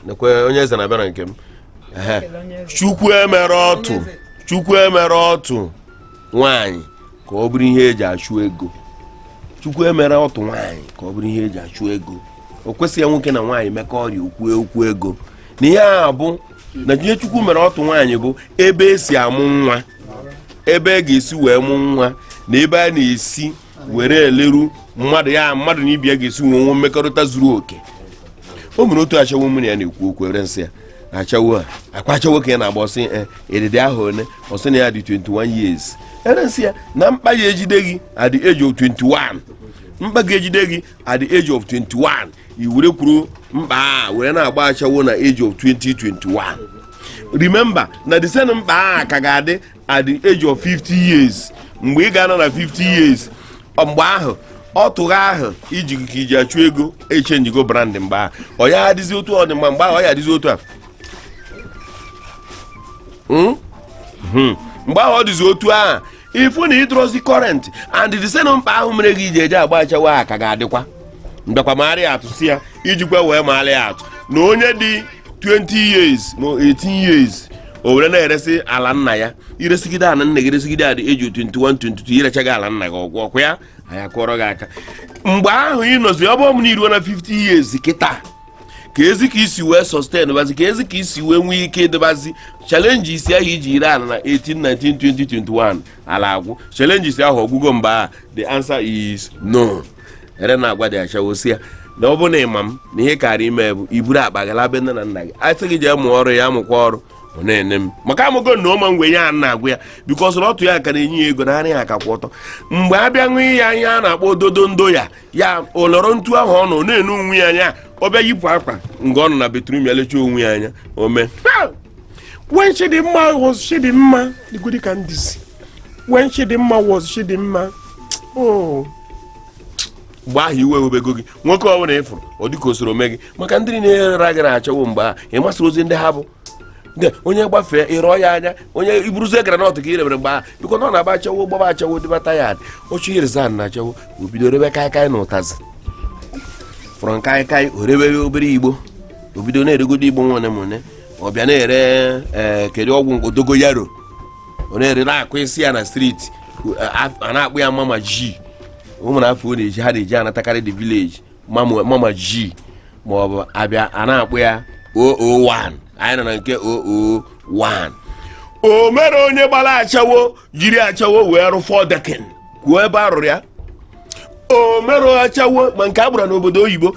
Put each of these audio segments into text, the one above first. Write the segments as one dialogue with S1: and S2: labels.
S1: nekwe onye eze na-abịa na nke m chukwu emere ọtụ chukwu emere ọtụ nwaanyị ka ọ bụrụ ihe eji achụ ego chukwu emere ọtụ nwaanyị ka ọ bụrụ ihe eji achụ ego o kwesịghị nwoke na nwaanyị mekọrịa okwu okwu ego na ihe a bụ na ihe chukwu mere ọtụ nwaanyị bụ ebe esi amụ nwa ebe a e ga-esi wee mụ nwa na ebe a na-esi were eleru mmadụ ya mmadụ na ibe ya ga-esi nwe nwe mmekọrịta zuru oke o nwere otu ashawo mụ na ya na-ekwu okwu ewere m sị ya ashawo a ọ kwa ashawo ka ị na-agba ọ sị ee, ị dị afọ one ọ sị na ya dị 21 years ewere m sị ya na mkpa ya ejide gị at the age of 21 mkpa ga-ejide gị at the age of 21 i were kwuru mkpa a were na-agba ashawo na age of 20 21 remember na the same mkpa a ka ga-adị at the age of 50 years mgbe ị ga-anọ na 50 years mgbe ahụ ọtụ gị ahụ i ji ka i ji achụ ego echenjigo brand mgbe ahụ ọ ya adịzi otu ọ dị mgbe mgbe ahụ ọ ya adịzi otu a hmm? Hmm. mgbe ahụ ọ dịzi otu ahụ ị fụ na ị dịrọzi current and the same mkpa ahụ mere gị i ji eje agba ashawo ka ga-adịkwa m bịakwa maara ya atụ sị ya ijikwa wee marị atụ na onye dị 20 years ma 18 years o were na-eresị ala nna ya i resigide ala nna gị resigide at the age 21 22 i rechaa ala nna gị ọ gwụ ọ kwa ya anyị akụọrọ gị aka mgbe ahụ ị nọzi ọ bụrụ na i ruo na 50 years kịta kezi ka i si wee sustain bazi kezi ka i si wee nwee ike ịdịbazi challenges ahụ i ji ree ala na 18 19 20 21 ala agwụ challenges ahụ ọ gwụgo mgbe a the answer is no ewere m na-agwa the ashawo sị ya na ọ bụ na ịma m na ihe karị ime bụ iburu akpa gị laa be nne na nna gị a sị gị jee mụọ ọrụ ya amụkwa ọrụ ọ na-ene m maka amụgo na ụma ngwe ya na-agwa ya because na ọtụ ya ka na-enye ya ego na ara ya ka kwụ ọtọ mgbe a bịa ṅụ ya ihe a na-akpọ ododo ndo ya ya olọrọ ntu ahụ ọ nọ na-ene onwe ya anya ọ bịa yipụ akwa nga ọ nọ na bathroom ya lechaa onwe ya anya o mee when chidimma was chidimma digodi ka m dịzi when chidimma was chidimma oh. mgbe ahụ iwe ewebego gị nwoke ọ bụla ị fụrụ ọ dịka o soro mee gị maka ndị na-erera gị na ashawo mgbe ahụ ị masịrọzi ndị ha bụ onye gbafee ị rọọ ya anya onye i buruzie groundnut ka i rebere mgbe ahụ because na ọ na-agba ashawo gbaba ashawo dịbata ya ọ chọọ i-resign na ashawo o bido rebe kaikai na ụtazị fọrọ kaikai o rebere obere igbo o bido na-eregodo igbo nwane m one ọ bịa na-ere ee eh, kedu ọgwụ dogoyaro ọ na-ere na-akụ isi ya na street a na-akpọ ya mama g ụmụ na afọ ọ na-eji ha na-eji anatakarị the village mama mama g ma ọ bụ a bịa a na-akpọ ya 001 anyị nọ na nke 001 o nwere onye gbara ashawo jiri ashawo wee rụọ 4 decking kwuo ebe a rụrụ ya o nwere ashawo ma nke a gbara n'obodo oyibo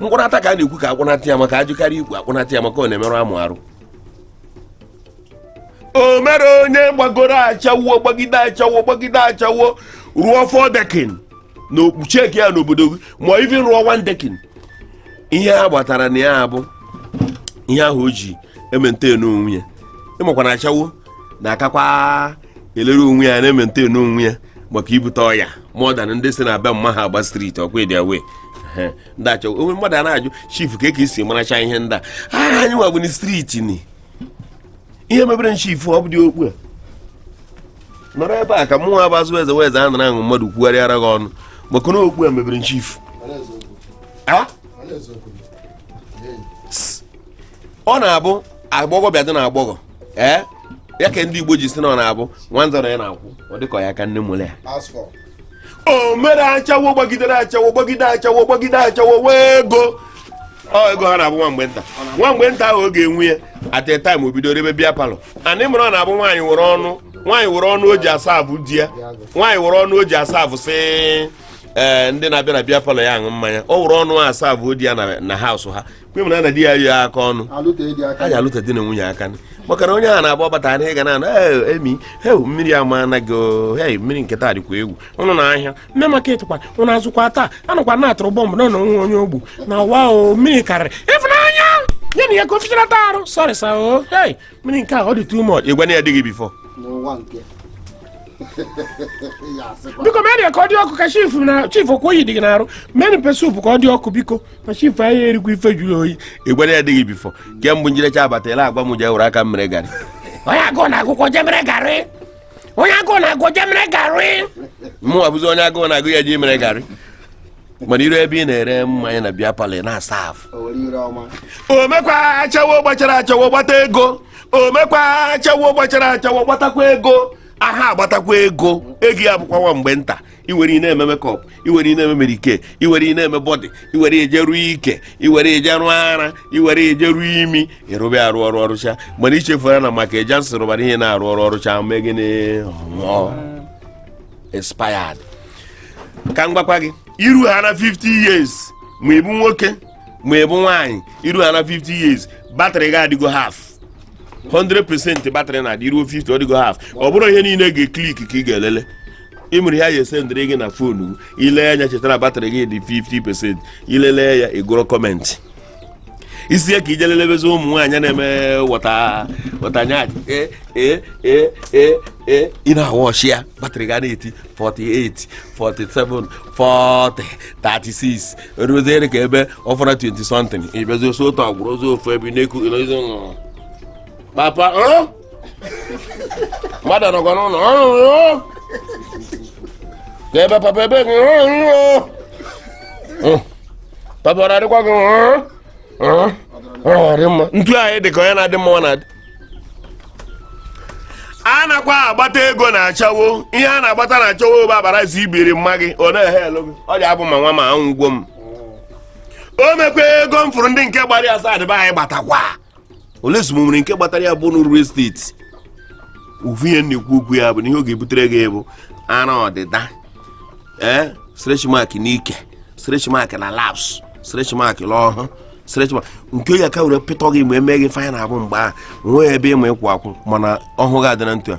S1: mkpụnata ka a na-ekwu ka akpụnata ya maka ajị karị ikpu akpụnata ya maka ọ na-emerụ amụ arụ o mere onye gbagoro achawo gbagide achawo gbagide achawo rụọ four decking na okpucheki ya n'obodo gị ma even rụọ one decking ihe a gbatara na ya bụ ihe ahụ o ji emaintain onwe ya ị makwa na achawo na-akakwa elere onwe ya na-emaintain onwe ya maka ibute ọya modern ndị si na be mma ha agba street ọ kwa ị dị aware ndị achawo onwe mmadụ a na-ajụ chief ka ka esi maracha ihe ndị a aha anyị nwa bụ na street ni ihe mebere chief ọ bụ dị okpu a nọrọ ebe a ka mụnwa bụ azụ eze wee eze a nara aṅụ mmadụ kwugharịara gị ọnụ maka na okpu a mebere chief ọ na-abụ agbọghọ bịa dị na agbọghọ ee ya ka ndị igbo ji si na ọ na-abụ nwanza na ya n'akwụ ọ dịka ya ka nne mụrụ ya o mere achawo gbagidere achawo gbagide achawo gbagide achawo nwee ego ọ ego ha na-abụ nwa mgbe nta nwa mgbe nta ahụ ọ ga-enwe ya at a time o bido rebe beer parlour anyị mụrụ ọ na-abụ nwaanyị were ọnụ nwaanyị were ọnụ o ji aserve di ya nwaanyị were ọnụ o ji aserve sị ee ndị na-abịa na beer parlour ya aṅụ mmanya ọ were ọnụ aserve di ya na house ha mgbe mara na di ya yi aka ọnụ a ji alụta di na nwunye aka maka na onye a na-agba ọbata na ịga na emi heu mmiri ama anaghị hei mmiri nke taa dịkwa egwu ụnụ na ahịa main market kwa ụnụ azụkwa taa a nụkwa na a tụrụ bomb na nwe onye ogbu na wa o mmiri karịrị ịfụnanya ya na ya ka o fichara taa arụ sorry sir o hei mmiri nke a ọ dị too much ịgwa na ya dịghị before biko mee ka ọ dị ọkụ ka chief na chief ọ kwa oyi dị gị n'arụ mee pepper soup ka ọ dị ọkụ biko chief anyị erikwa ife jụrụ oyi ịgbara ya adịghị before kemgbe njirecha abatala a gwa m je were aka mere garị onye agụụ na-agụkwa je mere garị onye agụụ na-agụ je mere garị mụ abụzi onye agụụ na-agụ ya ji mere garị mana i ru ebe ị na-ere mmanya na beer parlour na-aserve omekwa achawo gbachara achawo gbata ego omekwa achawo gbachara achawo gbatakwa ego aha agbatakwa ego ego ya bụkwa nwa mgbe nta i were ị na-eme makeup i were ị na-eme mary kay i were ị na-eme body i were eje rụọ ike i were eje rụọ ara i were eje rụọ imi ị rụba arụ ọrụ ọrụcha mana i chefuru na maka eja nsị rụbara ihe na-arụ ọrụ ọrụcha mee gịnị expired ka m gwakwa gị i ru ha na 50 years ma ị bụ nwoke ma ị bụ nwaanyị i ru ha na 50 years battery gị adịgo half 100% battery na-adị ruo 50 ọ dịgo half ọ bụrụ ihe niile ga-eclick ka ị ga-elele ị mere ya ya esendịrị gị na fonu i lee anya chetara batrị gị dị 50% i lele ya ị gụrụ kọmentị i si ya ka i je lelebezi ụmụ nwaanyị na-eme wọta wọta nyaanyị e e e e e ị na-awọchi ya batrị gị ana-eti 48 47 40 36 o ruzie ka ebe ọ fọrọ 20 something ị bịazi oso otu agwụrụ ozi ofu ebe na-eku ị nọzi papa mmadụ nọkwa n'ụlọ ka ebe papa ebe gị papa ọ na-adịkwa gị dị mma ntu anyị dị ka onye na-adị mma na-adị a nakwa agbata ego na ashawo ihe a na-agbata na ashawo bụ abarazi ibiri mma gị ọ na-ehe elu gị ọ dị abụ ma nwa ma anwụ ugwo m o mekwa ego m fụrụ ndị nke gbara ya asaa ndị be anyị gbatakwa ole ezumụ nwere nke gbatara ya bụ n'uru esteti ofu ihe na-ekwu okwu ya bụ na ihe ọ ga-ebutere gị bụ ara ọdịda ee stretch mark n'ike stretch mark na laps stretch mark n'ọhụ stretch mark nke ya ka were pịtọ gị mgbe e me gị faya na-abụ mgbe a nwee ebe ị ma ịkwụ akwụ mana ọhụ gị adị na ntụ a